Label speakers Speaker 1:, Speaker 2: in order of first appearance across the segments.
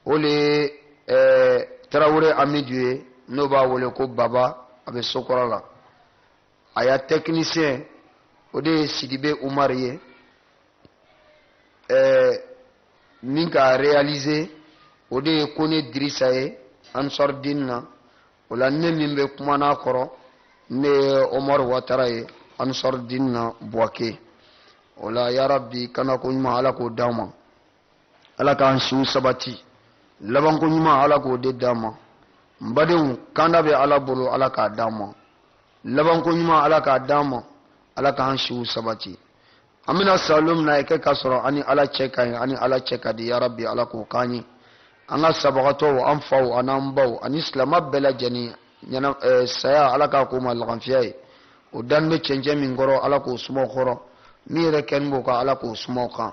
Speaker 1: o le ye ɛɛ eh, tarawele amidu ye n'o b'a wele ko baba a bɛ sokura la a ya tɛkinisiyɛn o de ye sidibe umari ye ɛɛ eh, min k'a reyalize o de ye kɔnɛ dirisa ye ansaridini na o la ne min bɛ kuma n'a kɔrɔ ne ye umaru watara ye ansaridini na buwake o la yarabi kanako ɲuman ala k'o d'an ma. ala k'an siw sabati labanko ɲuman ala k'o de d'an ma n badenw kanda bɛ ala bolo ala k'a d'an ma labanko ɲuman ala k'a d'an ma ala k'an siw sabati an bɛna sa lon min n'a kɛ k'a sɔrɔ an ni ala cɛ ka ɲi an ni ala cɛ ka di yarabi ala k'o k'an ye an ka sabagatɔw an faw an'an baw ani silama bɛɛ lajɛlen ɲɛna eh, saya ala k'a k'o ma laganfiya ye o dani bɛ cɛncɛn min kɔrɔ ala k'o suma kɔrɔ min yɛrɛkɛni b'o kan ala k'o suma o kan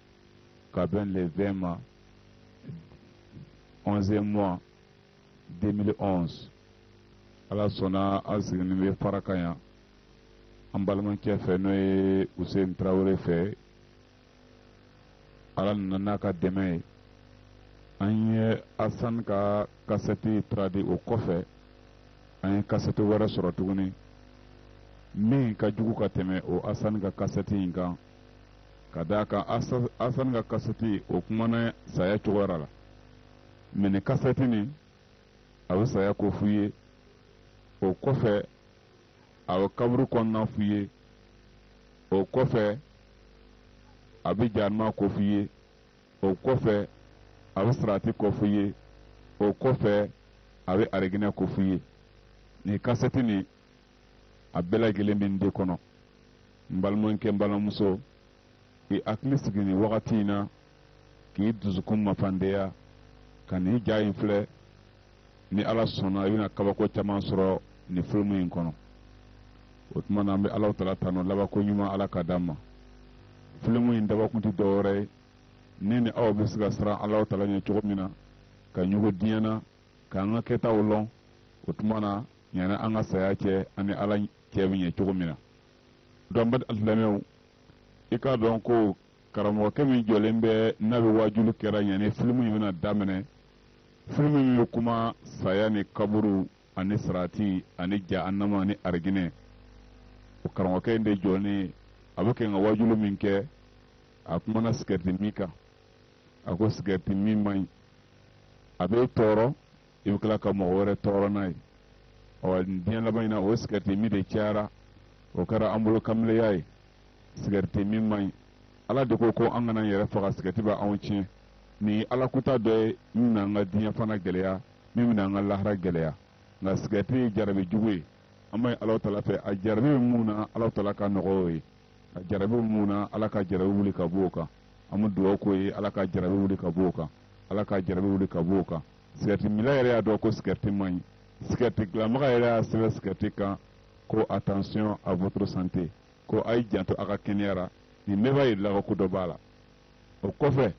Speaker 2: ka bɛn le 20 ma 11e mois 2011 ala sɔnna an siginin bɛ Farakan yan an balimakɛ fɛ n'o ye Hussein Traore fɛ ala nana n'a ka dɛmɛ ye an ye Asan ka kasɛti traduire o kɔfɛ an ye kasɛti wɛrɛ sɔrɔ tuguni min ka jugu ka tɛmɛ o Asan ka kasɛti in kan ka d'a kan asani ka kasɛti o kumana saya cogoyara la mɛ nin kasɛti nin a bɛ saya ko f'u ye o kɔfɛ a bɛ kaburu kɔnɔna f'u ye o kɔfɛ a bɛ jahanama ko f'u ye o kɔfɛ a bɛ sarati ko f'u ye o kɔfɛ a bɛ ariginɛ ko f'u ye nin kasɛti nin a bɛɛ lajɛlen bɛ n de kɔnɔ n balimakɛ n balimamuso i hakili sigi nin wagati in na k'i dusukun mafandeya ka nin ja in filɛ ni ala sɔnna i bɛna kabako caman sɔrɔ nin filimu in kɔnɔ o tuma na an bɛ alahu taala tanu labanko ɲuman ala k'a d'an ma filimu in dabakun tɛ dɔwɛrɛ ye ne ni aw bɛ se ka siran alahu taala ɲɛ cogo min na ka ɲugu diɲɛ na k'an ka kɛtaw lɔn o tuma na ɲana an ka saya cɛ ani ala cɛ bɛ ɲɛ cogo min na dɔnki baden silamɛw i k'a dɔn ko karamɔgɔkɛ min jɔlen bɛ n'a bɛ waajuli kɛra yani filimu in bɛna daminɛ filimu min bɛ kuma saya ni kaburu ani sarati ani jahanama ani ariginɛ o karamɔgɔkɛ in de jɔlen a bɛ kɛ ka waajuli min kɛ a kumana sigarɛti min kan a ko sigarɛti min man ɲi a bɛ tɔɔrɔ i bɛ tila ka mɔgɔ wɛrɛ tɔɔrɔ n'a ye ɔ diɲɛ laban in na o sigɛriti min de cayara o kɛra an bolo kamileya ye sigɛriti min man ɲi ala de ko ko an kana yɛrɛ faga sigɛriti bɛ anw tiɲɛ nin ye laada kura dɔ ye min bɛna an ka diɲɛ fana gɛlɛya min bɛna an ka lahara gɛlɛya nka sigɛriti ye jarabi jugu ye an b'a ye ala taala fɛ a jarabi bɛ min na ala taala ka nɔgɔya o ye a jarabi bɛ min na ala ka jarabi wuli ka b'o kan an bɛ dugawu k'o ye ala ka jarabi wuli ka b'o kan ala ka jarabi wuli ka b'o kan sigɛriti minna yɛrɛ y'a dɔn ko sigɛriti man ɲi sigɛriti dilanbaga yɛrɛ y'a sɛbɛn sigɛriti kan ko attention à votre santé ko a y'i janto a ka kɛnɛya la nin bɛɛ b'a yir'i la ko ko dɔ b'a la o kɔfɛ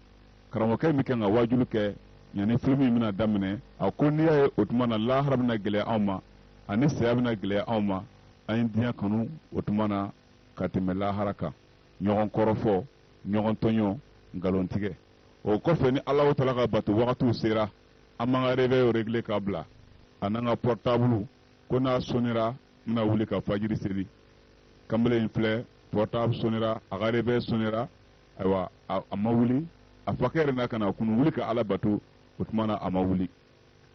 Speaker 2: karamɔgɔkɛ min kan ka waajuli kɛ yanni filimu in bɛna daminɛ a ko n'i y'a ye o tuma na lahara bɛna gɛlɛya anw ma ani saya bɛna gɛlɛya anw ma an ye diɲɛ kanu o tuma na ka tɛmɛ lahara kan ɲɔgɔn kɔrɔfɔ ɲɔgɔn tɔɲɔ nkalontigɛ o kɔfɛ ni Alahu taala ka bato wagatiw sera an b'an ka réveil régler ka bila a n'an ka portable ko n'a sonnera n bɛna wuli ka fajiri seli kamalen in filɛ portable sonnera a ka réveil sonnera ayiwa a ma wuli a fakɛ yɛrɛ na ka n'a kunun wuli ka Ala bato o tuma na a ma wuli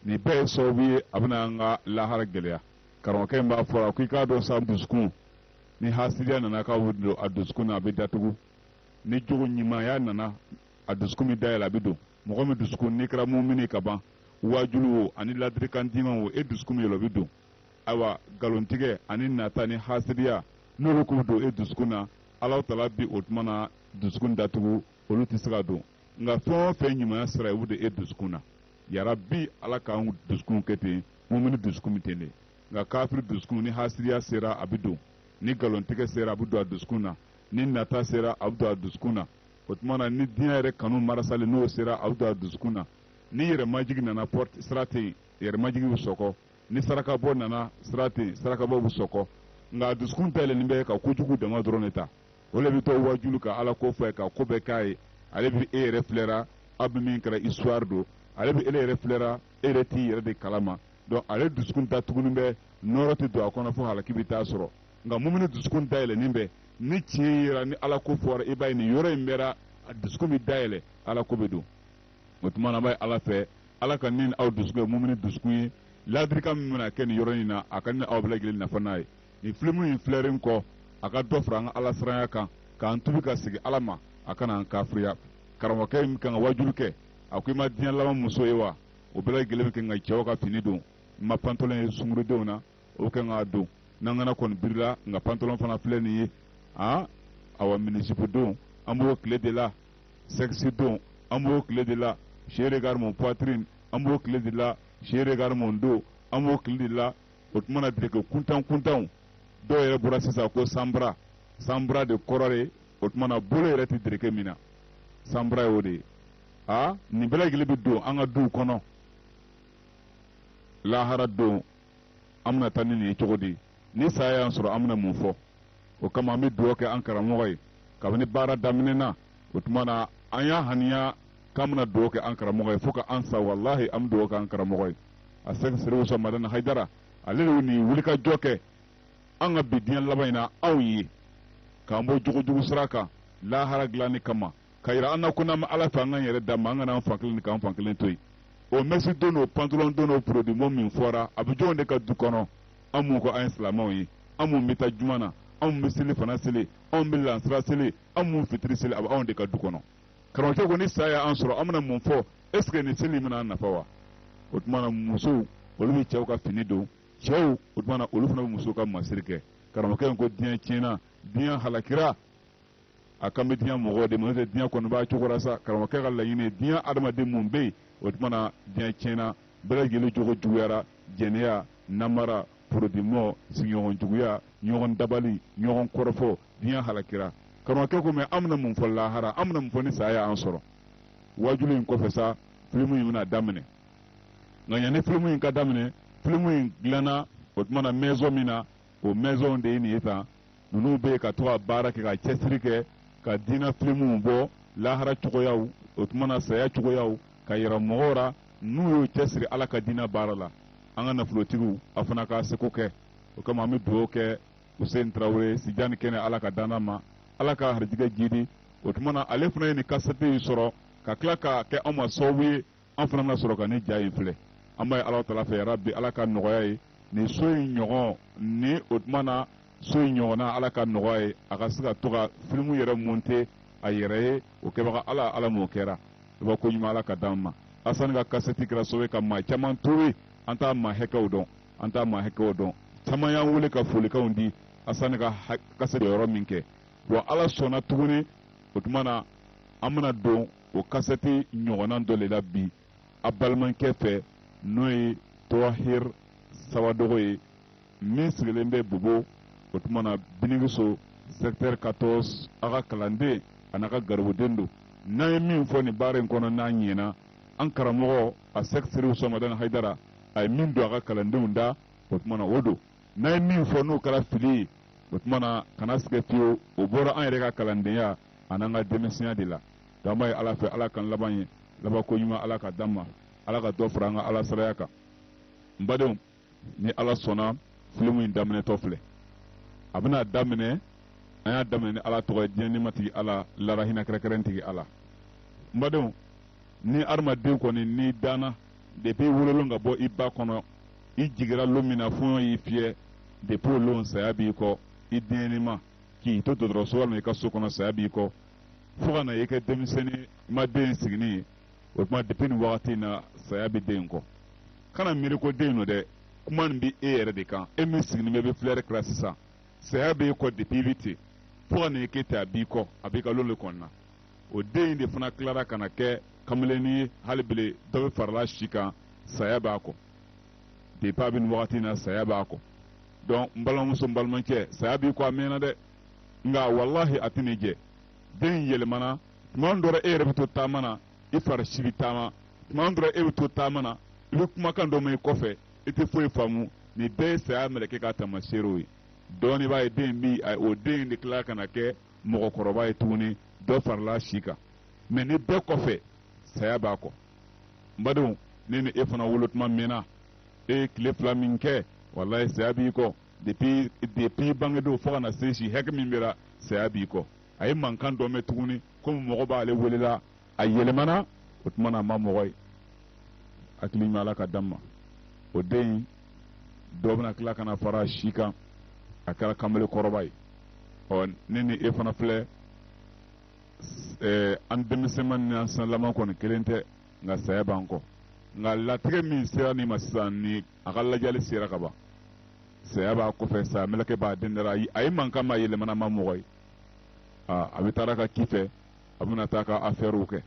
Speaker 2: nin bɛɛ ye sababu ye a bɛna an ka lahara gɛlɛya karamɔgɔkɛ in b'a fɔra ko i k'a dɔn sa dusukun ni hasidiya nana k'a bɛ don a dusukun na a bɛ datugu ni jogo ɲumanya nana a dusukun bɛ dayɛlɛ a bɛ don mɔgɔ min dusukun n'i kɛra mumini ka ban waajulu o ani ladirikan diman o e dusukun bɛ yɛlɛ o bɛ don ayiwa nkalontigɛ ani nata ni hasidiya n'olu k'u don e dusukun na Alahu Taala bi o tuma na dusukun datugu olu tɛ se ka don nka fɛn o fɛn ɲumanya sira ye o de e dusukun na yarabi Ala k'an dusukun kɛ ten mumini dusukun bɛ ten de nka kafiri dusukun ni hasidiya sera a bɛ don ni nkalontigɛ sera a bɛ don a dusukun na ni nata sera a bɛ don a dusukun na o tuma na ni diɲɛ yɛrɛ kanu marasali n'o sera a bɛ don a dusukun na ni yɛrɛmajigi nana porte sira tɛ yen yɛrɛmajigi bɛ sɔkɔ ni sarakabɔ nana sira tɛ yen sarakabɔ bɛ sɔkɔ nka a dusukun dayɛlɛlen bɛ ka kojugu dama dɔrɔn de ta o le bɛ to wajulu ka ala ko fɔ ka ko bɛɛ k'a ye ale bɛ e yɛrɛ filɛra aw bɛ min kɛra histoire don ale bɛ e yɛrɛ filɛra e yɛrɛ t'i yɛrɛ de kalama donc ale dusukun datugunen bɛ nɔɔrɔ tɛ don a kɔnɔ fo halaki bɛ taa sɔrɔ nka mumini dusukun dayɛlɛnen bɛ ni tiɲɛ yera ni ala ko fɔra i b'a ye nin yɔrɔnin bɛɛ ra a dusukun bɛ dayɛlɛ ala ko bɛ don o tuma na b'a ye ala fɛ ala ka n ni aw dusukun kɛ mumini dusukun ye laadirikan min bɛna kɛ nin yɔrɔ in na a ka n ni aw bɛɛ lajɛlen nafa n'a ye nin filimu in filɛren kɔ a ka dɔ fara an ka ala siranya kan k'an tubi ka segin ala ma a kana an kafiriya karamɔgɔkɛ in kan ka wajulu kɛ a ko i ma diɲɛ laban muso ye wa o bɛɛ lajɛlen bɛ kan ka cɛw ka fini don n ma pantalon ye sungurundenw na o bɛ kɛ k'a don n'an kana kɔni birila nka pantalon fana filɛ nin ye aa awa minijupe don an b'o tile de la sexy don an b'o tile de la chéri regarde mon poitrine an b'o tile de la chéri regarde mon dos an b'o tile de la o tuma na dereke kuntan kuntanw dɔw yɛrɛ bɔra sisan ko sans bras sans bras de kɔrɔ de o tuma na bolo yɛrɛ tɛ dereke min na sans bras y'o de ye aa nin bɛɛ lajɛlen bɛ don an ka duw kɔnɔ lahara don an bɛna taa ni nin ye cogo di ni saya y'an sɔrɔ an bɛna mun fɔ o kama an bɛ dugawu kɛ an karamɔgɔ ye kabini baara daminɛna o tuma na an y'a haniya k'an bɛna dugawu kɛ an karamɔgɔ ye fo ka an sa walahi an bɛ dugawu kɛ an karamɔgɔ ye a Cheick Chérif Ousmane Madani Haïdara ale de ye nin wulikajɔ kɛ an ka bi diɲɛ laban in na anw ye k'an bɔ jogojugu sira kan lahara dilanni kama ka yira an na ko n'an bɛ ala fɛ an k'an yɛrɛ d'a ma an kana an fan kelen di k'an fan kelen to yen o mɛsi don n'o pantalon don n'o produit mɔ min fɔra a bɛ jɔnw de ka du kɔnɔ an mun ko an ye silamɛw ye an mun bɛ taa juma na an mun bɛ selifana seli an bɛ lansara seli an mun fitiri seli a bɛ anw de ka du kɔnɔ karamɔgɔkɛ ko ni saya y'an sɔrɔ an bɛna mun fɔ ɛseke nin seli in bɛna an nafa wa o tuma na musow olu bɛ cɛw ka fini don cɛw o tuma na olu fana bɛ musow ka masiri kɛ karamɔgɔkɛ in ko diɲɛ tiɲɛna diɲɛ halakira a kan bɛ diɲɛ mɔgɔw de ma n'o tɛ diɲɛ kɔni b'a cogo ra sa karamɔgɔkɛ ka laɲini ye diɲɛ adamaden mun bɛ yen o tuma na diɲɛ tiɲɛna bɛɛ lajɛlen jogo juguyara jɛnɛya namara produit mɔ sigiɲɔgɔn juguya ɲɔgɔn dabali ɲɔgɔn kɔrɔfɔ diɲɛ halakira karamɔgɔkɛ ko mɛ an bɛna mun fɔ lahara an bɛna mun fɔ ni saya y'an sɔrɔ wajulu in kɔfɛ sa filimu in bɛna daminɛ nka yanni filimu in ka daminɛ filimu in dilanna o tuma na mɛzɔn min na o maison de ye nin ye tan ninnu bɛ ka to ka baara kɛ ka cɛsiri kɛ ka diinɛ filimuw bɔ lahara cogoyaw o tuma na saya cogoyaw ka yira mɔgɔw ra n'u y'u cɛsiri ala ka diinɛ baara la an ka nafolotigiw a fana k'a seko kɛ o kama an bɛ dugawu kɛ Hussein Traore si jan ni kɛnɛ Ala k'a d'an n'a ma Ala k'a harijɛgɛ jiidi o tuma na ale fana ye nin kasɛti in sɔrɔ ka tila k'a kɛ anw ma sababu ye an fana bɛna sɔrɔ ka nin ja in filɛ an b'a ye ala taala fɛ yarabi ala k'a nɔgɔy'a ye nin so in ɲɔgɔn ni o tuma na so in ɲɔgɔnna ala k'a nɔgɔy'a ye a ka se ka to ka filimu yɛrɛ monte a yɛrɛ ye o kɛbaga ala ala m'o kɛra i b'a ko ɲuman ala k'a d'an ma asani ka kasɛti kɛra sababu ye ka maa caman towe an t'a maa hakɛw dɔn an t'a maa hakɛw dɔn caman y'an wele ka folikanw di asani ka kasɛti yɔrɔ min kɛ wa ala sɔnna tuguni o tuma na an bɛna don o kasɛti ɲɔgɔnna dɔ de la bi a balimakɛ fɛ n'o ye tɔhir sawadogo ye min sigilen bɛ bobo o tuma na binigiso secteur 14 a ka kalanden an'a ka garibuden don n'an ye min fɔ nin baara in kɔnɔ n'a ɲɛna an karamɔgɔ asɛki serifu usuman madani hayidara a ye min don a ka kalandenw da o tuma na o don n'an ye min fɔ n'o kɛra fili ye o tuma na kana sigɛ fiyewu o bɔra an yɛrɛ ka kalandenya ani an ka denmisɛnya de la donc an b'a ye ala fɛ ala k'an laban ye labanko ɲuman ala ka d'an ma ala ka dɔ fara an ka ala siranya kan n badenw ni ala sɔnna filimu in daminɛtɔ filɛ a bɛna daminɛ an y'a daminɛ ni ala tɔgɔ ye diɲɛ nɛɛmatigi ala lahara hinɛ kɛrɛnkɛrɛntigi ala n badenw ni adamaden kɔni n'i danna depuis wololon ka bɔ i ba kɔnɔ i jigira lon min na fɔɲɔ y'i fiyɛ depuis o lon saya b'i kɔ i denɲɛnima k'i to dɔgɔtɔrɔso walima i ka so kɔnɔ saya b'i kɔ fo ka na i kɛ denmisɛnnin ma den sigini ye o tuma depuis nin wagati in na saya bɛ den in kɔ kana miiri ko den don dɛ kuma nin bɛ e yɛrɛ de kan e min sigini bɛ bɛ filɛri kɛ la sisan saya b'e kɔ depuis i bɛ ten fo ka na i kɛ ten a b'i kɔ a b'i ka lon de kɔnɔna o den in de fana tilara ka na kɛ kamalennin ye hali bi le dɔ bɛ farala si kan saya b'a kɔ depuis a bɛ nin wagati in na saya b'a kɔ donc n balimamuso n balimakɛ saya b'i kɔ a mɛnna dɛ nka walahi a tɛna i jɛ den yɛlɛmana tuma dɔ ra e yɛrɛ bɛ to taama na i fari si bɛ taama tuma dɔ ra e bɛ to taama na i bɛ kumakan dɔ mɛn i kɔfɛ i tɛ foyi faamu nin bɛɛ ye saya mɛlɛkɛ ka tamaseerew ye dɔɔni b'a ye den bi o den de tila ka na kɛ mɔgɔkɔrɔba ye tuguni dɔ farala si kan mais nin bɛɛ kɔfɛ saya b'a kɔ n badenw ne ni e fana wolo tuma mɛnna e ye tile fila min kɛ walayi saya b'i kɔ depuis bange don fo ka na se si hakɛ min b'i ra saya b'i kɔ a ye mankan dɔ mɛn tuguni komi mɔgɔ b'ale welela a yɛlɛmana o tuma na a ma mɔgɔ ye hakili ɲuman ala ka d'an ma o den in dɔ bɛna tila ka na fara si kan a kɛra kamalen kɔrɔba ye ɔ ne ni e fana filɛ ɛɛ an denmisɛnma ni an sanlama kɔni kelen tɛ nka saya b'an kɔ nka latigɛ min sera nin ma sisan ni a ka lajali sera ka ban saya b'a kɔfɛ saya mɛlɛkɛ b'a dɛndɛ ra a ye mankan mɛn a yɛlɛmana a ma mɔgɔ ye aa a bɛ taara a ka ci fɛ a bɛna taa ka afɛɛriw kɛ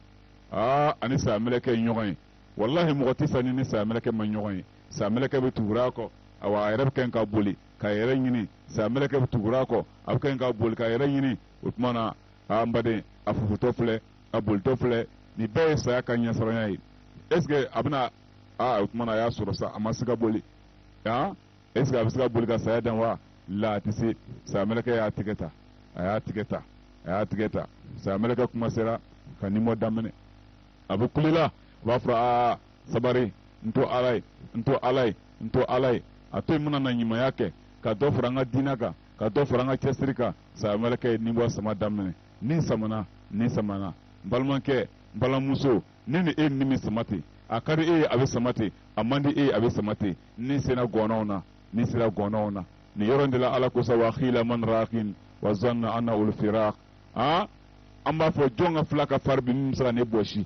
Speaker 2: aa a ni saya mɛlɛkɛ ye ɲɔgɔn ye walahi mɔgɔ tɛ sa n'i ni saya mɛlɛkɛ ma ɲɔgɔn ye saya mɛlɛkɛ bɛ tugura a kɔ awa a yɛrɛ bɛ kɛ ka boli k'a yɛrɛ ɲini saya mɛlɛkɛ bɛ tugura a kɔ a bɛ kɛ ka boli k'a yɛrɛ ɲini o tuma na an baden a fofotɔ filɛ a bolitɔ filɛ nin bɛɛ ye saya ka ɲɛsiranya ye est ce que a bɛna aa o tuma na a y'a sɔrɔ sa a ma se ka boli han est ce que a bɛ se ka boli ka saya dan wa la a tɛ se saya mɛlɛkɛ y'a tigɛ ta a y'a tigɛ ta a y'a tigɛ ta saya mɛlɛkɛ kuma sera ka ni bɔ daminɛ a bɛ kule la a b'a fɔ aa sabari n to ala ye n to ala ye n to ala ye a to yen n bɛna na ɲumanya kɛ ka dɔ fara n ka diinɛ kan ka dɔ fara n ka cɛsiri kan sayamɛlɛkɛ ye ni bɔ sama daminɛ ni samana ni samana n balimakɛ n balimamuso ne ni e ni bɛ sama ten a ka di e ye a bɛ sama ten a man di e ye a bɛ sama ten ni sera gɔnɔnw na ni sera gɔnɔnw na nin yɔrɔ in de la ala ko sa wa qila man raqin wa zanna annahul firaq an b'a fɔ jɔn ka fila ka fari bi min bɛ se ka ne bɔsi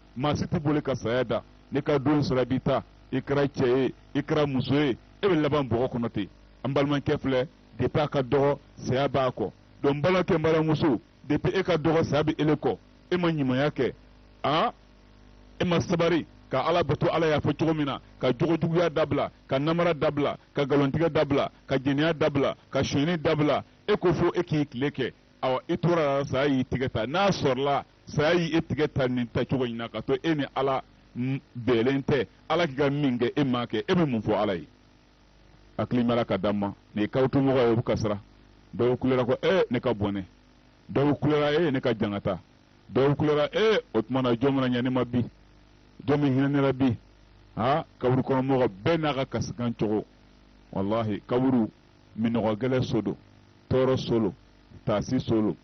Speaker 2: maa si tɛ boli ka saya dan n'i ka don sera a b'i ta i kɛra cɛ ye i kɛra muso ye e bɛ laban bɔgɔ kɔnɔ ten an balimakɛ filɛ depi a ka dɔgɔ saya b'a kɔ donc n balimakɛ n balimamuso depi e ka dɔgɔ saya bɛ ele kɔ e ma ɲumanya kɛ a e ma sabari ka ala bato ala y'a fɔ cogo min na ka jogojuguya dabila ka namara dabila ka nkalontigɛ dabila ka jɛnɛya dabila ka sonyɛni dabila e ko fo e k'i tile kɛ awa i tora a la saya y'i tigɛ ta n'a sɔrɔla saya y' e tigɛ ta nin ta cogo in na ka to e ni ala bɛnnen tɛ ala k'i ka min kɛ e m'a kɛ e bɛ mun fɔ ala ye hakili b'a la ka da ma nin ye kaburutu mɔgɔ ye o bɛ kasi ra dɔw kulera ko ee ne ka bɔnɛ dɔw kulera ee ne ka jangata dɔw kulera ee o tuma na jɔn bɛna ɲɛ ne ma bi jɔn bɛ hinɛ ne la bi aa kaburu kɔnɔ mɔgɔ bɛɛ n'a ka kasikan cogo walahi kaburu min kogɛlɛn so don tɔɔrɔ so don taasi so don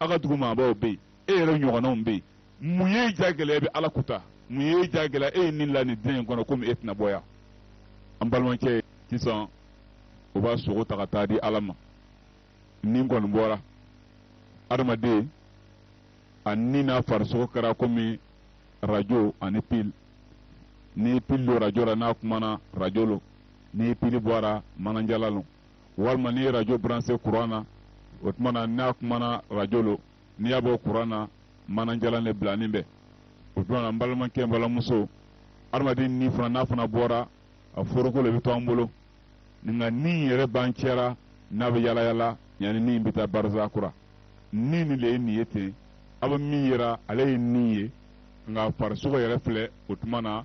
Speaker 2: aw ka dugu maabaw bɛ yen e yɛrɛ ɲɔgɔnnaw bɛ yen mun y'i ja gɛlɛya e bɛ ala kuta mun y'i ja gɛlɛya e ye ni la nin diɲɛ in kɔnɔ komi e tɛna bɔ yan an balimakɛ sisan o b'a sogo ta ka taa di ala ma ni kɔni bɔra adamaden a ni n'a farisogo kɛra komi rajo ani pili ni pili don rajo la n'a kumana rajo lo ni pili bɔra manajalan lo walima n'i ye rajo branse kuran na o tuma na n'a kumana rajo lo n'i y'a bɔ kuran na manajalan le bilanin bɛ o tuma na n balimakɛ n balimamuso adamaden ni fana n'a fana bɔra a foroko le bɛ to an bolo nka ni yɛrɛ b'an cɛ ra n'a bɛ yala yala yanni ni bɛ taa barisa kuran ni ni le ye nin ye ten aw bɛ min yira ale ye ni ye nka farisogo yɛrɛ filɛ o tuma na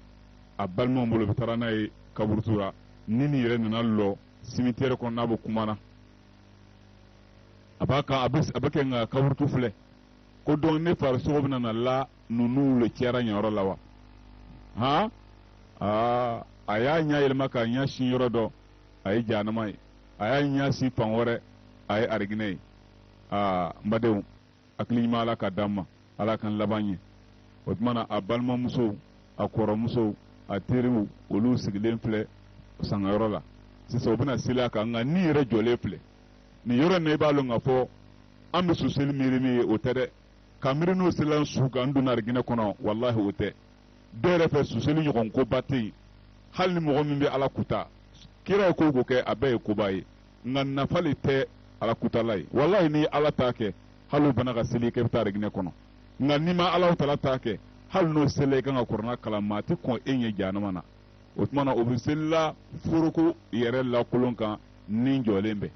Speaker 2: a balimaw bolo bɛ taa ra n'a ye kaburutu la ni nin yɛrɛ nana lɔ simitɛri kɔnɔ n'a bɛ kuma na a b'a ka a bɛ kɛ nka kaburutu filɛ ko donc ne farisogo bɛna na la ninnu le cɛ ra nin yɔrɔ la wa han aa a y'a ɲɛ yɛlɛma k'a ɲɛ sin yɔrɔ dɔ a ye jahanama ye a y'a ɲɛ sin fan wɛrɛ a ye arijinɛ ye aa n badenw hakili ɲuman ala ka d'an ma ala k'an laban ɲɛ o tuma na a balimamusow a kɔrɔmusow a teriw olu sigilen filɛ sangayɔrɔ la sisan u bɛna seli a kan nka ni yɛrɛ jɔlen filɛ nin yɔrɔ in na i b'a dɔn k'a fɔ an bɛ su seli miiri min ye o tɛ dɛ ka miiri n'o selila su kan n donna ariginɛ kɔnɔ walahi o tɛ dɔw yɛrɛ fɛ su seli ɲɔgɔn koba tɛ yen hali ni mɔgɔ min bɛ ala kuta kira ye ko o ko kɛ a bɛɛ ye koba ye nka nafa le tɛ ala kutala ye walayi n'i ala ta kɛ hali u banna ka seli kɛ bɛ taa ariginɛ kɔnɔ nka n'i ma ala tala ta kɛ hali n'o seli i kan ka kurana kalan maa tɛ kɔn e ɲɛ jahanama na o tuma na o bɛ selila foroko yɛrɛ lakolon kan ni jɔlen bɛ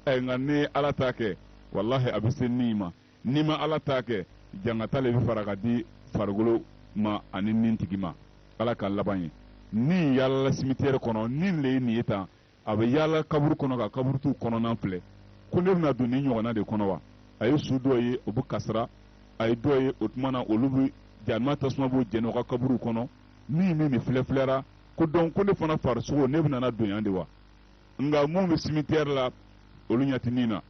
Speaker 2: ɛ nka n'i ala ta kɛ walahi a bɛ se ni ma n'i ma ala ta kɛ jangata le bɛ fara ka di farikolo ma ani ni tigi ma ala k'an laban ɲɛ ni yaalala simitiyɛri kɔnɔ ni le ye nin ye tan a bɛ yaala kaburu kɔnɔ ka kaburutu kɔnɔna filɛ ko ne bɛna don nin ɲɔgɔnna de kɔnɔ wa a ye su dɔ ye o bɛ kasira a ye dɔ ye o tuma na olu bɛ jahanama tasuma b'o jɛni o ka kaburu kɔnɔ ni min nin filɛfilɛra ko dɔn ko ne fana farisogo ne bɛna don yan de wa nka minnu bɛ simitɛri la olu ɲɛ tɛ nin na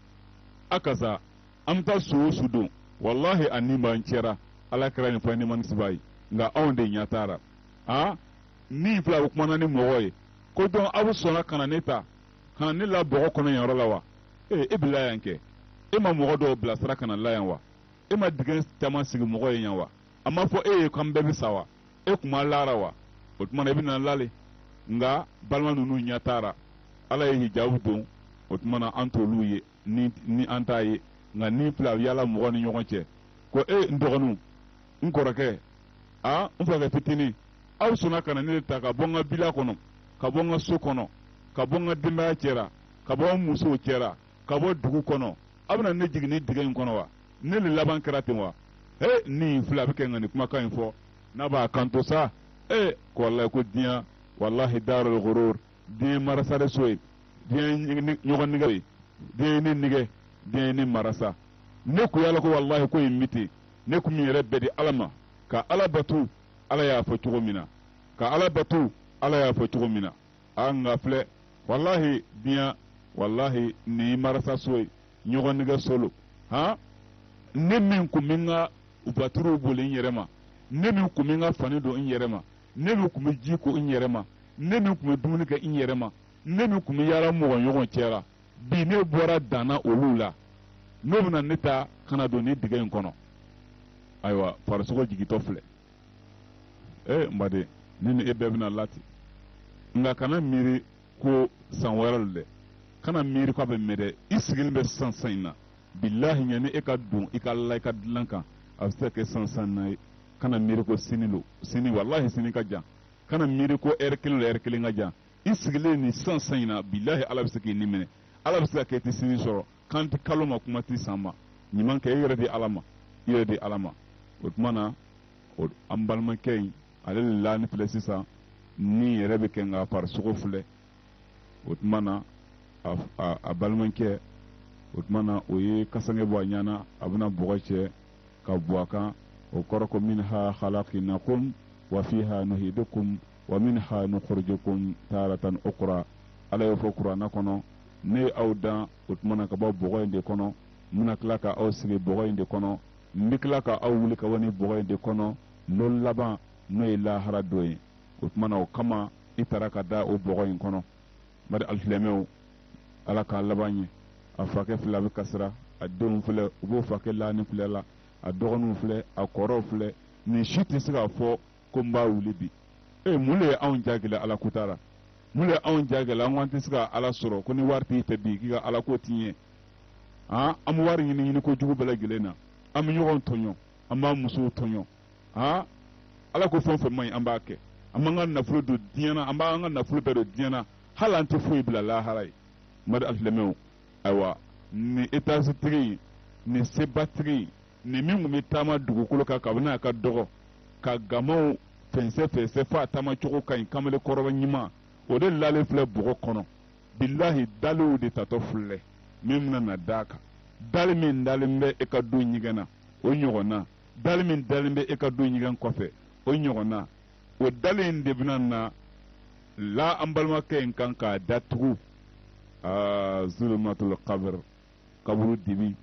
Speaker 2: a kasa an bɛ taa su o su don walahi a ni b'an cɛra ala kira nin fɔ ni manisiba ye nka anw de ɲɛ t'a ra aa ni filɛ a bɛ kumana ni mɔgɔ ye ko dɔn aw bɛ sɔnna ka na ne ta ka na ne la bɔgɔ kɔnɔ yan yɔrɔ la wa ee e bɛ la yan kɛ e ma mɔgɔ dɔw bilasira ka na la yan wa e ma dingɛ caman sigi mɔgɔ ye yan wa a ma fɔ e ye k'an bɛɛ bɛ sa wa e kun ma la a ra wa o tuma na e bɛna la le nka balima ninnu ɲɛ t'a ra ala ye hijabu don o tuma na an t'olu ye ni ni an t'a ye nka ni filɛ a yaala mɔgɔ ni ɲɔgɔn cɛ ko e n dɔgɔninw n kɔrɔkɛ a n fakɛ fitinin aw sɔnna ka na ne le ta ka bɔ n ka bila kɔnɔ ka bɔ n ka so kɔnɔ ka bɔ n ka denbaya cɛra ka bɔ n musow cɛra ka bɔ dugu kɔnɔ aw bɛna ne jigin nin dingɛ in kɔnɔ wa ne le laban kɛra ten wa he nin fila a bɛ kɛ nka nin kumakan in fɔ n'a b'a kanto sa ee ko walayi ko diɲɛ walahi daarul gurur diɲɛ marasa de so ye diɲɛ ɲɔgɔn nigɛ ye diɲɛ ne nigɛ diɲɛ ne marasa ne kun y'a lɔn ko walahi ko ye mite ne kun bɛ n yɛrɛ bɛɛ di ala ma ka ala batu ala y'a fɔ cogo min na ka ala batu ala y'a fɔ cogo min na a nka filɛ walahi diɲa walahi nin ye marasa so ye ɲɔgɔn nigɛ so lo han ne min kun bɛ n ka vaturuw boli n yɛrɛ ma ne min kun bɛ n ka fani don n yɛrɛ ma ne min tun bɛ ji ko n yɛrɛ ma ne min tun bɛ dumuni kɛ n yɛrɛ ma ne min tun bɛ yaala mɔgɔ ɲɔgɔn cɛra bi ne bɔra danna olu la n'o bɛna ne ta ka na don ni dingɛ in kɔnɔ ayiwa farisogo jigitɔ filɛ ee eh, n baden ne ni e bɛɛ bɛna la ten nka kana miiri ko san wɛrɛ lo dɛ kana miiri ko a bɛ mɛɛn dɛ i sigilen bɛ sisan san in na bilahi yanni e ka don i ka la i ka dilan kan a bɛ se ka kɛ san san na ye kana miiri ko sini lo sini walahi sini ka jan kana miiri ko ɛri kelen lo ɛri kelen ka jan i sigilen nin san san in na bilahi ala bɛ se k'i ni minɛ ala bɛ se ka kɛ i tɛ sini sɔrɔ kan tɛ kalo ma kuma tɛ san ma ɲuman kɛ i yɛrɛ di ala ma i yɛrɛ di ala ma o tuma na an balimakɛ in ale de lalen filɛ sisan ni yɛrɛ bɛ kɛ nka farisogo filɛ o tuma na a balimakɛ o tuma na o ye kasange bɔ a ɲa na a bɛna bɔgɔ cɛ ka bɔn a kan o kɔrɔ ko min ha halakinakum wa fi ha nuhidukum wa min ha nukhrijukum taratan ukhra ala y'o fɔ kuranna kɔnɔ ne ye aw dan o tuma na ka bɔ bɔgɔ in de kɔnɔ n bɛna tila ka aw segin bɔgɔ in de kɔnɔ n bɛ tila ka aw wuli ka bɔ ni bɔgɔ in de kɔnɔ lon laban n'o ye lahara don ye o tumana o kama i taara ka da o bɔgɔ in kɔnɔ bari alisilamɛw ala k'a laban ɲɛ a fakɛ filɛ a bɛ kasira a denw filɛ u b'o fakɛ lalen filɛ la a dɔgɔninw filɛ a kɔrɔw filɛ nin si tɛ se k'a fɔ ko n b'a wuli bi e mun de ye anw jagɛlɛ ala ko ta la mun de ye anw jagɛlɛ an ko an tɛ se ka ala sɔrɔ ko ni wari t'i fɛ bi k'i ka ala ko tɛ ɲɛ an bɛ wari ɲini ɲini ko jugu bɛɛ lajɛlen na an bɛ ɲɔgɔn tɔɲɔ an b'an musow tɔɲɔ han ala ko fɛn o fɛn man ɲi an b'a kɛ an b'an ka nafolo don diɲɛ na an b'an ka nafolo bɛɛ don diɲɛ na hali an tɛ foyi bila lahara ye mari alisilamɛw ayiwa nin etazitigi in nin sebatigi in nin min tun bɛ taama dugukolo kan kabini a ka dɔgɔ ka gamaw fɛnsɛ fɛnsɛ fo a taama cogo ka ɲi kamalen kɔrɔba ɲuman o de lalen filɛ bɔgɔ kɔnɔ bilahi daliw de tatɔ filɛ min bɛna na d'a kan dali min dalen bɛ e ka du ɲɛgɛn na o ɲɔgɔnna dali min dalen bɛ e ka du ɲɛgɛn kɔfɛ o ɲɔgɔn na o dali in de bɛna na la an balimakɛ in kan k'a datugu aa zulumatul qabr kaburu dibi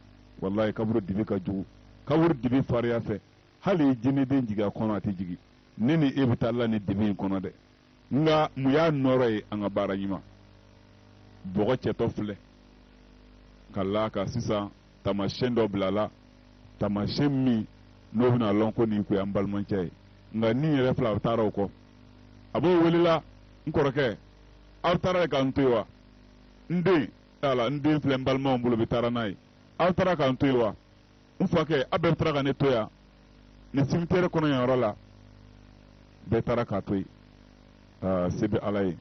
Speaker 2: walayi kaburu dibi ka jugu kaburu dibi fariya fɛ hali jinɛden jigin a kɔnɔ a tɛ jigin ne ni e bɛ taa la ni dibi in kɔnɔ dɛ nka mun y'a nɔɔrɔ ye an ka baara ɲuman bɔgɔ cɛtɔ filɛ ka la a kan sisan tamasiyɛn dɔ bila la tamasiyɛn min n'o bɛna lɔn ko nin kun y'an balimakɛ ye nka ni yɛrɛ filɛ a bɛ taara o kɔ a b'o welela n kɔrɔkɛ aw taara ka n to yen wa n den t'a la n den filɛ n balimaw bolo bɛ taara n'a ye aw taara ka n to yen wa n fakɛ a bɛɛ taara ka ne to yan nin cimetière kɔnɔ yan yɔrɔ la bɛɛ taara k'a to yen se bɛ ala ye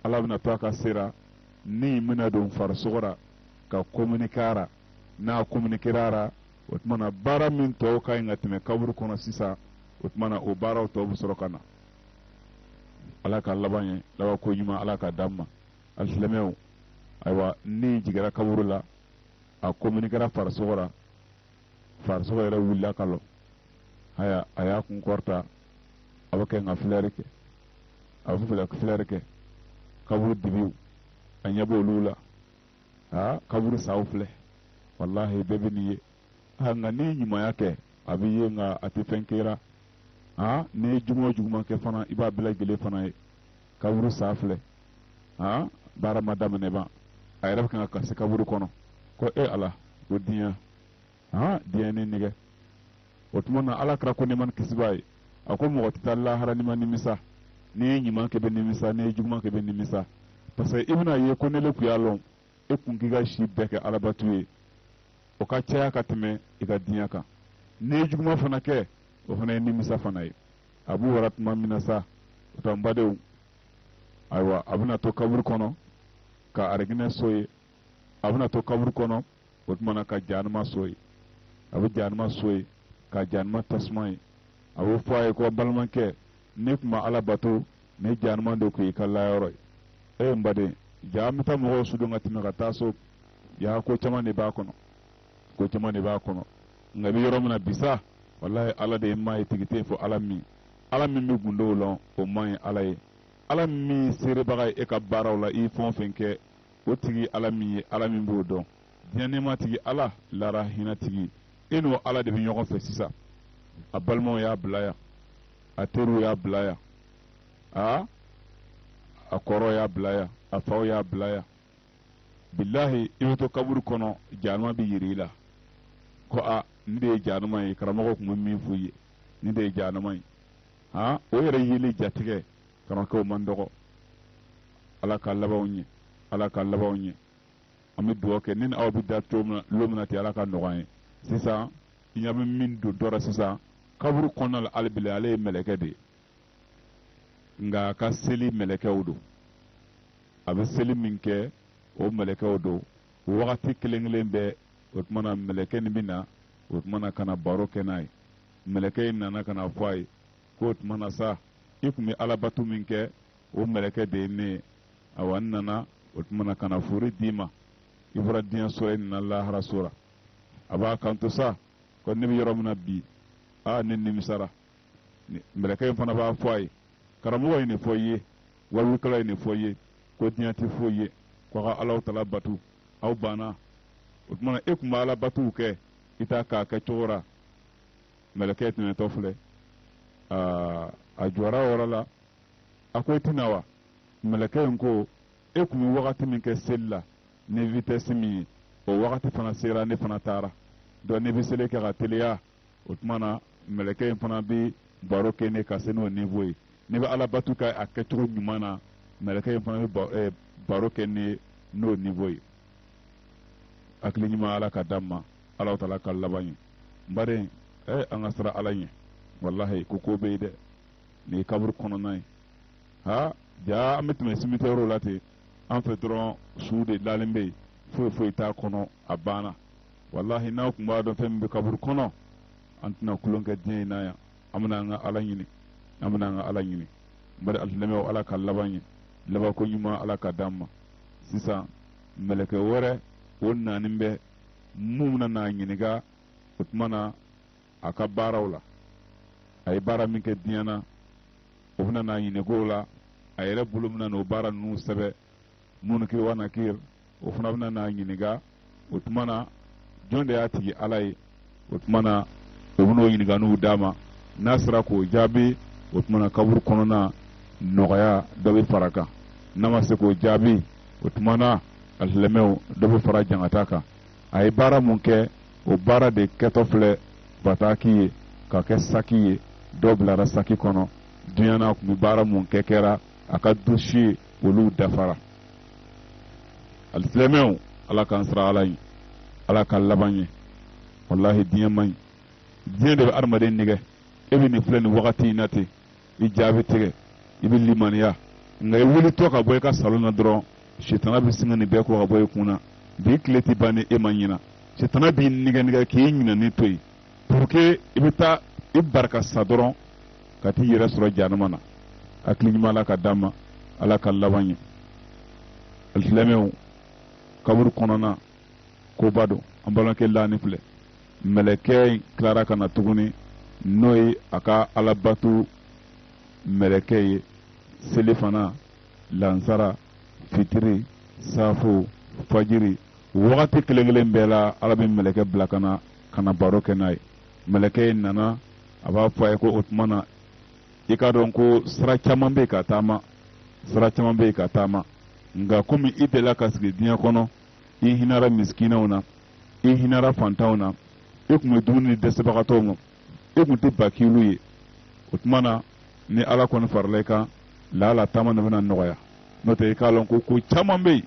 Speaker 2: ala bɛna to a ka se ra ni bɛna don farisogo ra ka kominike a ra n'a kominikera a ra o tuma na baara min tɔw ka ɲi ka tɛmɛ kaburu kɔnɔ sisan o tuma na o baaraw tɔw bɛ sɔrɔ ka na ala ka laban ɲɛ labanko ɲuman ala ka d'an ma alisilamɛw ayiwa ni jigira kaburu la a kominikɛra farisogo la farisogo yɛrɛ wulila ka lɔ haya a y'a kun kɔrɔta a bɛ kɛ nka filɛri kɛ a bɛ fɛ ka filɛri kɛ kaburu dibiw a ɲɛ b'olu la aa kaburu saw filɛ walahi bɛɛ bɛ nin ye a nka n'i ye ɲumanya kɛ a b'i ye nka a tɛ fɛn kɛ i ra aa n'i ye juguman o juguman kɛ fana i b'a bɛɛ lajɛlen fana ye kaburu sa filɛ han baara ma daminɛ ban a yɛrɛ bɛ kan ka kasi kaburu kɔnɔ ko e ala ko diɲɛ han diɲɛ ni nɛgɛ o tuma na ala kira ko ne man kisibaa ye a ko mɔgɔ tɛ taa lahara n'i ma nimisa n'i ye ɲuman kɛ bɛ nimisa n'i ye juguman kɛ bɛ nimisa parce que i bɛna ye ko n'e le kun y'a lɔn e kun k'i ka si bɛɛ kɛ alabatu ye o ka caya ka tɛmɛ i ka diɲɛ kan n'i ye juguman fana kɛ o fana ye nimisa fana ye a b'u wara tuma min na sa o tɛ n badenw ayiwa a bɛna to kaburu kɔnɔ ka arijinɛ so ye a bɛna to kaburu kɔnɔ o tuma na ka januma so ye a bɛ januma so ye ka januma tasuma ye a bɛ fɔ a ye ko balimakɛ n'e kun ma ala bato nin januma de kun y'i ka layɔrɔ ye ee n baden jaa an bɛ taa mɔgɔw sudon ka tɛmɛ ka taa so yaa ko caman de b'a kɔnɔ ko caman de b'a kɔnɔ nka i bɛ yɔrɔ min na bi sa walayi ala de ye maa ye tigi tɛ fo ala min ala min bɛ gundow lɔn o man ye ala ye ala min seerebaga ye e ka baaraw la i fɛn o fɛn kɛ o tigi ala min ye ala min b'o dɔn diɲɛ nɛɛma tigi ala lahara hinɛ tigi e n'o ala de bɛ ɲɔgɔn fɛ sisan a balimaw y'a bila yan a teriw y'a bila yan a kɔrɔ y'a bila yan a faw y'a bila yan bilahi i bɛ to kaburu kɔnɔ januma bɛ yiri i la ko a nin de ye januma ye karamɔgɔw kun bɛ min f'u ye nin de ye januma ye han o yɛrɛ yeli jatigɛ karamɔgɔkɛw man dɔgɔ ala ka labanw ɲɛ ala ka labanw ɲɛ an bɛ dugawu kɛ ne ni aw bɛ da cogo min na lon min na ten ala ka nɔgɔya ye sisan i ɲɛ bɛ min don dɔ la sisan kaburu kɔnɔna la hali bi ale ye mɛlɛkɛ de ye nka a ka seli mɛlɛkɛw don a bɛ seli min kɛ o mɛlɛkɛw don wagati kelen kelen bɛɛ o tuma na mɛlɛkɛ nin bɛ na o tuma na ka na baro kɛ n'a ye mɛlɛkɛ in nana ka n'a fɔ a ye k'o tuma na sa i tun bɛ alabato min kɛ o mɛlɛkɛ de ye ne ye awa n nana o tuma na ka na fori d'i ma i bɔra diɲɛ so la i nana lahara so la a b'a kanto sa ko ne bɛ yɔrɔ min na bi aa ne nimisara mɛlɛkɛ in fana b'a fɔ a ye karamɔgɔ ye nin fɔ i ye waajulikɛla ye nin fɔ i ye ko diɲɛ tɛ foyi ye k'aw ka ala taala batu aw banna o tuma na e tun bɛ alabatuw kɛ i t'a k'a kɛcogo la mɛlɛkɛ tɛmɛtɔ filɛ aa a jɔra o yɔrɔ la a ko i tɛ na wa mɛlɛkɛ in ko e tun bɛ wagati min kɛ seli la ni vitɛsi min ye o wagati fana sera ne fana taara donc n'e bɛ seli kɛ ka teliya o tuma na mɛlɛkɛ in fana bɛ baro kɛ n'i ye ka se n'o nivo ye n'e bɛ alabatu kɛ a kɛcogo ɲuman na mɛlɛkɛ in fana bɛ eh, baro kɛ n'i ye n'o nivo ye hakili ɲuman ala ka d'an ma ala taala ka laban ɲɛ n baden eh, an ka siran ala ɲɛ walahi ko ko bɛ yen dɛ nin ye kaburu kɔnɔna ye ha jaa an bɛ tɛmɛ simitiyɛriw la ten an fɛ dɔrɔn su de lalen bɛ yen foyi foyi t'a kɔnɔ a banna walahi n'an tun b'a dɔn fɛn min bɛ kaburu kɔnɔ an tɛna kulon kɛ diɲɛ in na yan an bɛna an ka ala ɲini an bɛna an ka ala ɲini n baden alisilamɛw ala ka laban ɲɛ labanko ɲuman ala ka d'an ma sisan mɛlɛkɛ wɛrɛ o nanen bɛ mun bɛna n'a ɲininka o tuma na a ka baaraw la a ye baara min kɛ diɲɛ na o bɛna n'a ɲininka o la a yɛrɛ bolo bɛna n'o baara ninnu sɛbɛn munkiri wa nakir o fana bɛna n'a ɲininka o tuma na jɔn de y'a tigi ala ye o tuma na o bɛn'o ɲininkaniw d'a ma n'a sera k'o jaabi o tuma na kaburu kɔnɔna nɔgɔya dɔ bɛ far'a kan n'a ma se k'o jaabi o tuma na alisilamɛw dɔ bɛ fara jangata kan a ye baara mun kɛ o baara de kɛtɔ filɛ bataki ye ka kɛ saki ye dɔ bilara saki kɔnɔ diɲɛ na tun bɛ baara mun kɛ kɛra a ka dosiye olu dafara alisilamɛw ala k'an siran ala ɲɛ ala ka laban ɲɛ walahi diɲɛ man ɲi diɲɛ de bɛ adamaden nɛgɛn e bɛ nin filɛ nin wagati in na ten i ja bɛ tigɛ i bɛ limaniya nka i wulitɔ ka bɔ i ka salon na dɔrɔn sitana bɛ sin ka nin bɛɛ ko ka bɔ i kun na bi tile tɛ ban ni e ma ɲina sitana b'i nɛgɛn nɛgɛn k'i ɲinanen to yen pour que i bɛ taa i bara ka sa dɔrɔn ka t'i yɛrɛ sɔrɔ jahanama na hakili ɲuman ala ka d'an ma ala ka laban ɲɛ alisilamɛw kaburu kɔnɔna koba don an balimakɛ lalen filɛ mɛlɛkɛ in tilara ka na tuguni n'o ye a ka alabato mɛlɛkɛ ye selifana lansara fitiri safo fajiri wagati kelen kelen bɛɛ la ala bɛ mɛlɛkɛ bila ka na ka na baro kɛ n'a ye mɛlɛkɛ in nana a b'a fɔ a ye ko o tuma na i k'a dɔn ko sira caman bɛ yen ka taama sira caman bɛ yen ka taama nka komi i delila ka sigi diɲɛ kɔnɔ i hinɛra misikinɛw na i hinɛra fantanw na i tun bɛ dumuni ni dɛsɛbagatɔw ma i tun tɛ bakilu ye o tuma na ni ala kɔni farala i kan laala taama de bɛna nɔgɔya n'o tɛ i k'a lɔn ko ko caman bɛ yen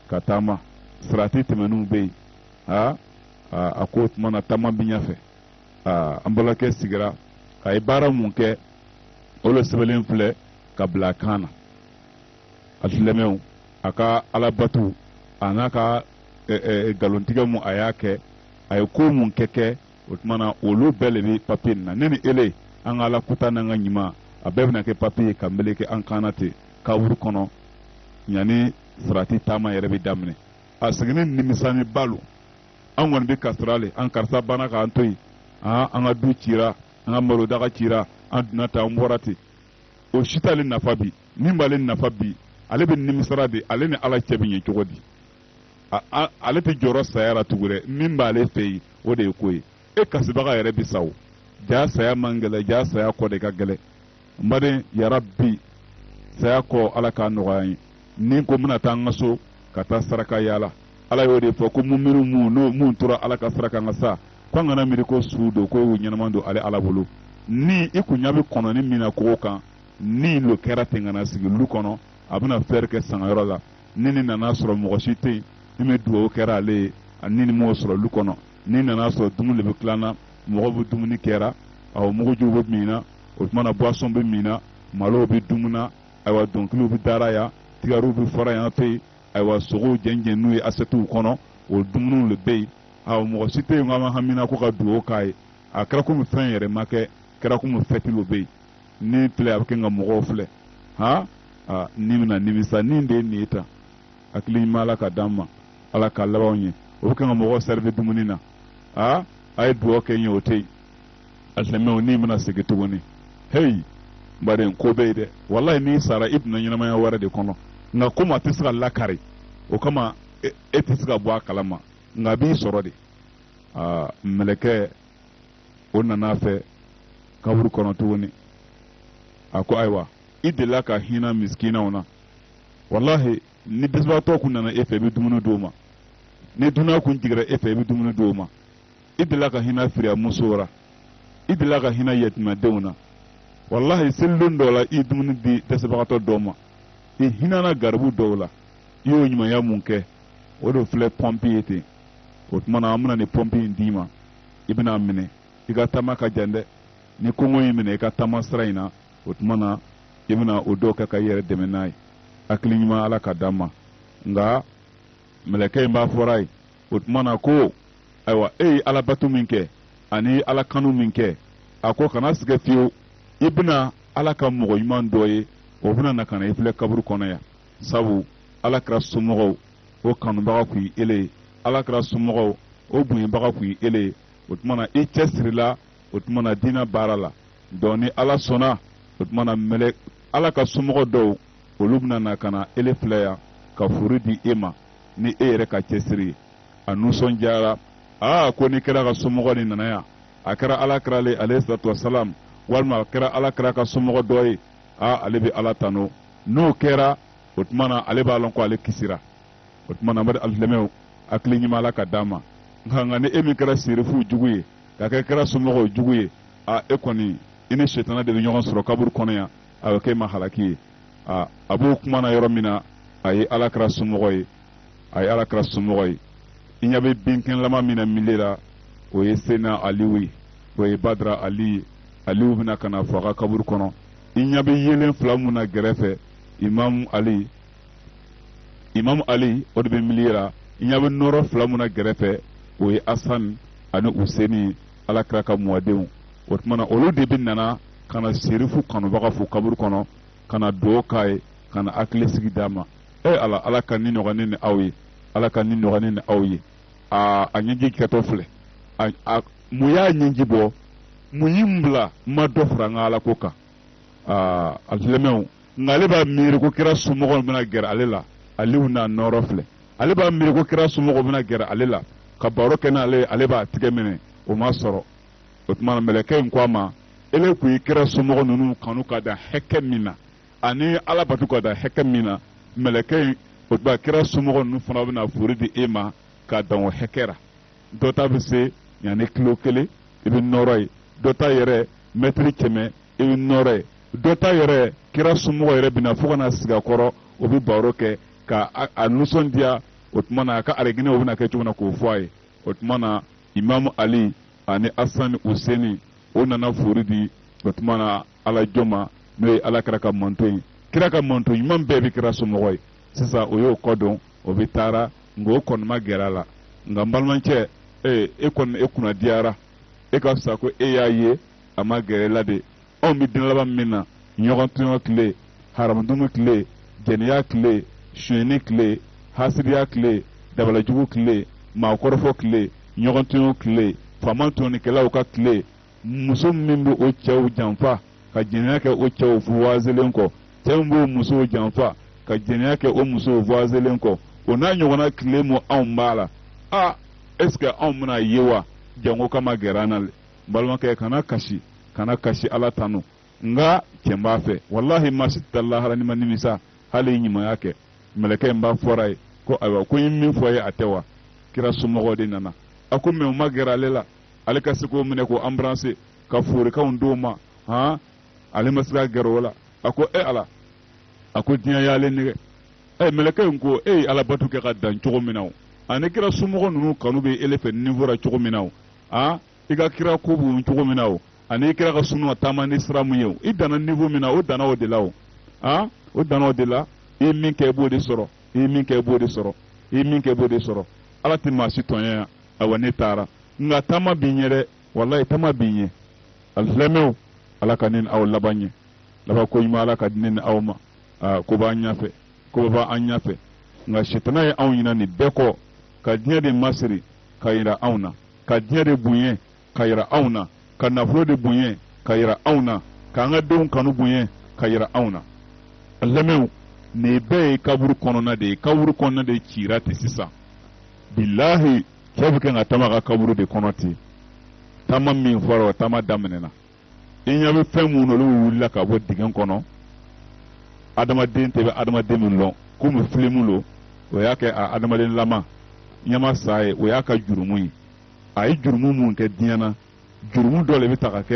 Speaker 2: ka taama sirati tɛmɛniw bɛ yen aa a ko o tuma na taama bɛ ɲɛfɛ aa an balimakɛ sigira a ye baara mun kɛ o le sɛbɛnlen filɛ ka bila a kan na a silamɛw a ka alabatu a n'a ka nkalontigɛ mun a y'a kɛ a ye ko mun kɛ kɛ o tuma na olu bɛɛ de bɛ papiye nin na ne ni ele an ka ala kuta n'an ka ɲuman a bɛɛ bɛna kɛ papiye ye ka meleke an kan na ten kaburu kɔnɔ yanni sirati taama yɛrɛ bɛ daminɛ a seginni nimisani ba lo an kɔni bɛ kasira le an karisa banna k'an to yen aa an ka du cira an ka malodaga cira an donna tan an bɔra ten o si t'ale nafa bi min b'ale nafa bi ale bɛ nimisara de ale ni ala cɛ bɛ ɲɛ cogo di ale tɛ jɔrɔ saya la tugu dɛ min b'ale fɛ yen o de ye ko ye e kasibaga yɛrɛ bi sa o jaa saya man gɛlɛ jaa saya kɔ de ka gɛlɛ n baden yarabi saya kɔ ala k'a nɔgɔya ye ni ko n bɛna taa an ka so ka taa saraka yaala ala y'o de fɔ ko muminiw mun n'o mun tora ala ka sira kan ka sa ko an kana miiri ko su don ko y'u ɲɛnama don ale ala bolo ni i kun ɲa bɛ kɔnɔnin min na kogo kan ni lo kɛra ten ka na sigi lu kɔnɔ a bɛna fɛɛrɛ kɛ sangayɔrɔ la ni ni nana sɔrɔ mɔgɔ si tɛ yen min bɛ dugawu kɛra ale ye ani ni m'o sɔrɔ lu kɔnɔ ni nana sɔrɔ dumuni de bɛ tilan na mɔgɔ bɛ dumuni kɛra awɔ mugujiw bɛ min na o tuma na boisson bɛ min na malow bɛ dumuni na ayiwa dɔnkiliw bɛ dara yan gitariw bɛ fɔra yan fɛ yen ayiwa sogow jɛnjɛnnen ye asɛtiw kɔnɔ o dumuniw de bɛ yen awɔ mɔgɔ si tɛ yen k'an bɛ hamina ko ka dugawu k'a ye a kɛra komi fɛn yɛrɛ ma kɛ kɛra komi fɛti le bɛ yen ni filɛ a bɛ kan ka mɔgɔw filɛ han aa ni bɛna nimisa ni de ye nin ye tan hakili ɲuman ala ka d'an ma ala ka laban ɲɛ o bɛ kan ka mɔgɔw sɛrivi dumuni na aa a ye dugawu kɛ n ye o tɛ yen alisilamɛw ni bɛna segin tuguni heyi baden ko bɛ yen dɛ walayi n'i sara i donna ɲɛnamaya wɛrɛ de kɔnɔ nka komi a tɛ se ka lakari o kama e, e tɛ se ka bɔ a kalama nka a b'i sɔrɔ de aa mɛlɛkɛ o nana a fɛ kaburu kɔnɔ tuguni a ko ayiwa i delila ka hinɛ misikinaw na walahi ni dɛsɛbagatɔ kun nana e fɛ i bɛ dumuni d'o ma ni dunan kun jigira e fɛ i bɛ dumuni d'o ma i delila ka hinɛ firiyamusow la i delila ka hinɛ yatimadenw na walahi selidon dɔ la i ye dumuni di dɛsɛbagatɔ dɔ ma i hinɛna garibu dɔw la i y'o ɲumanya min kɛ o de filɛ pɔmpi ye ten o tuma na an bɛna nin pɔmpi in d'i ma i bɛna a minɛ i ka taama ka jan dɛ ni kɔngɔ y'i minɛ i ka taama sira in na o tuma na i bɛna o dɔw kɛ ka i yɛrɛ dɛmɛ n'a ye hakili ɲuman ala ka d'an ma nka mɛlɛkɛ in b'a fɔr'a ye o tuma na ko ayiwa e ye ala bato min kɛ ani ala kanu min kɛ a ko kana sigɛ fiyewu i bɛna ala ka mɔgɔ ɲuman dɔ ye o bɛna na ka na i filɛ kaburu kɔnɔ yan sabu ala kira somɔgɔw o kanubaga kun ye ele ye ala kira somɔgɔw o bonyabaga kun ye ele ye o tuma na i cɛsirila o tuma na diinɛ baara la dɔɔnin ni ala sɔnna o tuma na mɛlɛ ala ka somɔgɔ dɔw olu bɛna na ka na ele filɛ yan ka fori di e ma ni e yɛrɛ ka cɛsiri ye a nusɔnjara aa ko ni kira ka somɔgɔ nin nana yan a kɛra ala kira le alayhi salatu wasalam walima a kɛra ala kira ka somɔgɔ dɔ ye aa ale bɛ ala tanu n'o kɛra o tuma na ale b'a lɔn ko ale kisira o tuma na mari alisilamɛw hakili ɲuman ala ka d'an ma nka nka ni e min kɛra serifuw jugu ye ka kɛ kira somɔgɔw jugu ye a e kɔni i ni setana de bɛ ɲɔgɔn sɔrɔ kaburu kɔnɔ yan a bɛ kɛ e ma halaki ye a a b'o kuma na yɔrɔ min na a ye ala kira somɔgɔ ye a ye ala kira somɔgɔ ye i ɲɛ bɛ binkɛnɛlama min na milieu la o ye sena aliw ye o ye badara ali ye aliw bɛ na ka na fo a ka kaburu kɔnɔ i ɲɛ bɛ yelen fila min na gɛrɛfɛ imamu ali imamu ali o de bɛ milieu ra i ɲɛ bɛ nɔɔrɔ fila min na gɛrɛfɛ o ye asan ani useni ala kira ka mɔdenw o tuma na olu de bɛ nana ka na serifu kanubaga fo kaburu kɔnɔ ka na dugawu k'a ye ka na hakili sigi d'a ma e ala ala ka nin nɔgɔya ne ni aw ye ala ka nin nɔgɔya ne ni aw ye aa a ɲɛji kɛtɔ filɛ a mun y'a ɲɛji bɔ mun ye n bila n ma dɔ fara n ka ala ko kan aa alisilamɛw nka ale b'a miiri ko kira somɔgɔw bɛna gɛrɛ ale la aliw n'a nɔɔrɔ filɛ ale b'a miiri ko kira somɔgɔw bɛna gɛrɛ ale la ka baro kɛ n'ale ale b'a tigɛ minɛ o ma sɔrɔ o tuma mɛlɛkɛ in ko a ma ele kun ye kira somɔgɔ ninnu kanu ka dan hakɛ min na ani ala bato ka dan hakɛ min na mɛlɛkɛ in o tuma kira somɔgɔ ninnu fana bɛna fori di e ma ka dan o hakɛ ra dɔ ta bɛ se yan ni kilo kelen i bɛ nɔɔrɔ ye dɔ ta yɛrɛ mɛtiri kɛmɛ i bɛ nɔɔrɔ ye dɔ ta yɛrɛ kira somɔgɔ yɛrɛ bɛna fo ka na sigi a kɔrɔ o bɛ baro kɛ ka a nisɔndiya o tuma na a ka arijinɛ o bɛna kɛ cogo na k'o fɔ a ye o tuma na imamu ali ani asani useni o nana fori di o tuma na ala jɔn ma n'o ye ala kira ka mantɔn ye kira ka mantɔn ɲuman bɛɛ bɛ kira somɔgɔ ye sisan o y'o kɔdon o bɛɛ taara nka o kɔni ma gɛrɛ a la nka n balimakɛ ee e kɔni e kunna diyara e ka fisa ko e y'a ye a ma gɛrɛ e la dɛ anw bɛ diɲɛ laban min na ɲɔgɔn tɔɲɔ tile haramudumu tile jɛnɛya tile sonyɛni tile hasidiya tile dabalajugu tile maakɔrɔfɔ tile ɲɔgɔn tɔɲɔ tile faama tɔɲɔnikɛlaw ka tile muso min bɛ o cɛw janfa ka jɛnɛya kɛ o cɛw voyagelen kɔ cɛ min b'o musow janfa ka jɛnɛya kɛ o musow voyagelen kɔ o n'a ɲɔgɔnna tile mu anw b'a la a est ce que anw bɛn'a ye wa jango ka magɛrɛ an na n balimakɛ kana kasi kana kasi ala tanu nka cɛn b'a fɛ walahi maa si tɛ lahara n'i ma nimisa hali ɲumanya kɛ mɛlɛkɛ in b'a fɔr'a ye ko ayiwa ko n ye min fɔ i ye a tɛ wa kira somɔgɔw de nana a ko mais u ma gɛrɛ ale la ale ka se k'o minɛ k'o embrasser ka forikan d'o ma han ale ma se ka gɛrɛ o la a ko e ala a ko diɲɛ y'ale nɛgɛn ɛ mɛlɛkɛ in ko e ye alabato kɛ ka dan cogo min na o ani kira somɔgɔ ninnu kanu bɛ ele fɛ niveau ra cogo min na o a i ka kira ko b'u cogo min na o ani i kira ka suna ka taama ni sira min ye o i danna niveau min na o danna o de la o a o danna o de la i min kɛ i b'o de sɔrɔ i min kɛ i b'o de sɔrɔ i min kɛ i b'o de sɔrɔ ala tɛ maa si tɔɲɛ yan awa ne taara nka taama b'i ɲɛ dɛ walayi taama b'i ɲɛ alisilamɛw ala ka ne ni aw laban ɲɛ laban ko ɲuman ala k'a di ne ni aw ma aa ko b'an ɲɛfɛ koba b'an ɲɛfɛ nka sitana ye anw ɲina nin bɛɛ kɔ ka diɲɛ de masiri ka yira anw na ka diɲɛ de bonya ka yira anw na ka nafolo de bonya ka yira anw na k'an ka denw kanu bonya ka yira anw na alisilamɛw nin bɛɛ ye kaburu kɔnɔna de ye kaburu kɔnɔna de kɛra ten sisan bilahi cɛ bɛ k'a ka taama kɛ kaburu de kɔnɔ ten taama min fɔra o taama daminɛna i ɲɛ bɛ fɛn minnu olu wulila ka bɔ dingɛ kɔnɔ adamaden tɛ bɛ adamaden min lɔn komi filimu lo o y'a kɛ a adamaden lama ɲɛma sa ye o y'a ka jurumu ye a ye jurumu min kɛ diɲɛ na jurumu dɔ le bɛ ta ka kɛ